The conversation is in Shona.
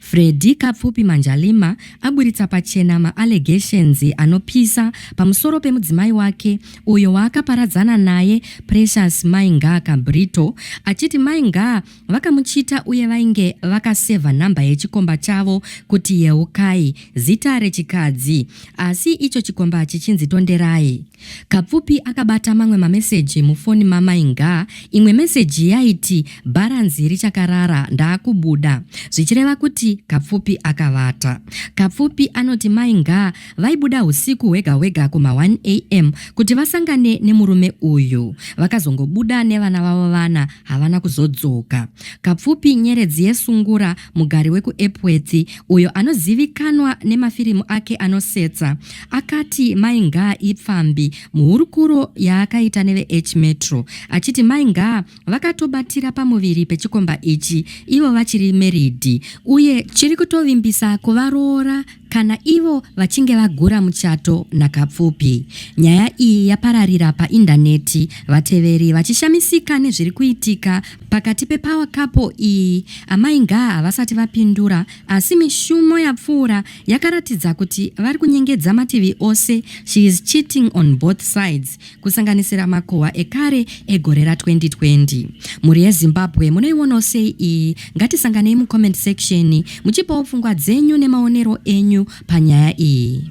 Freddy Kapfupi Manjalima aburitsa pachena ma allegations anopisa pamusoro pemudzimai wake uyo waakaparadzana naye Precious Mai Ngaa Kabrito achiti Mai Ngaa vakamuchita uye vainge vakasevha nhamba yechikomba chavo kuti Yeukai, zita rechikadzi, asi icho chikomba chichinzi Tonderai. Kapfupi akabata mamwe mameseji mufoni mamai Ngaa. Imwe meseji yaiti bharanzi richakarara ndaakubuda zvichireva kuti Kapfupi akavata. Kapfupi anoti mai Ngaa vaibuda usiku hwega hwega kuma 1 am kuti vasangane nemurume uyu. Vakazongobuda nevana vavo vana havana kuzodzoka. Kapfupi nyeredzi yesungura Mugari wekuEpworth, uyo anozivikanwa nemafirimu ake anosetsa, akati Mai Ngaa ipfambi muhurukuro yaakaita neveH Metro achiti Mai Ngaa vakatobatira pamuviri pechikomba ichi ivo vachiri meridhi uye chiri kutovimbisa kuvaroora Kana ivo vachinge vagura muchato naKapfupi, nyaya iyi yapararira paindaneti vateveri vachishamisika nezviri kuitika pakati pepower couple iyi. Amai Ngaa havasati vapindura asi mishumo yapfuura yakaratidza kuti vari kunyengedza mativi ose, she is cheating on both sides. kusanganisira makohwa ekare egore ra 2020. Mhuri yeZimbabwe munoionawo sei iyi? Ngatisanganei mucomment section muchipawo pfungwa dzenyu nemaonero enyu panyaya iyi.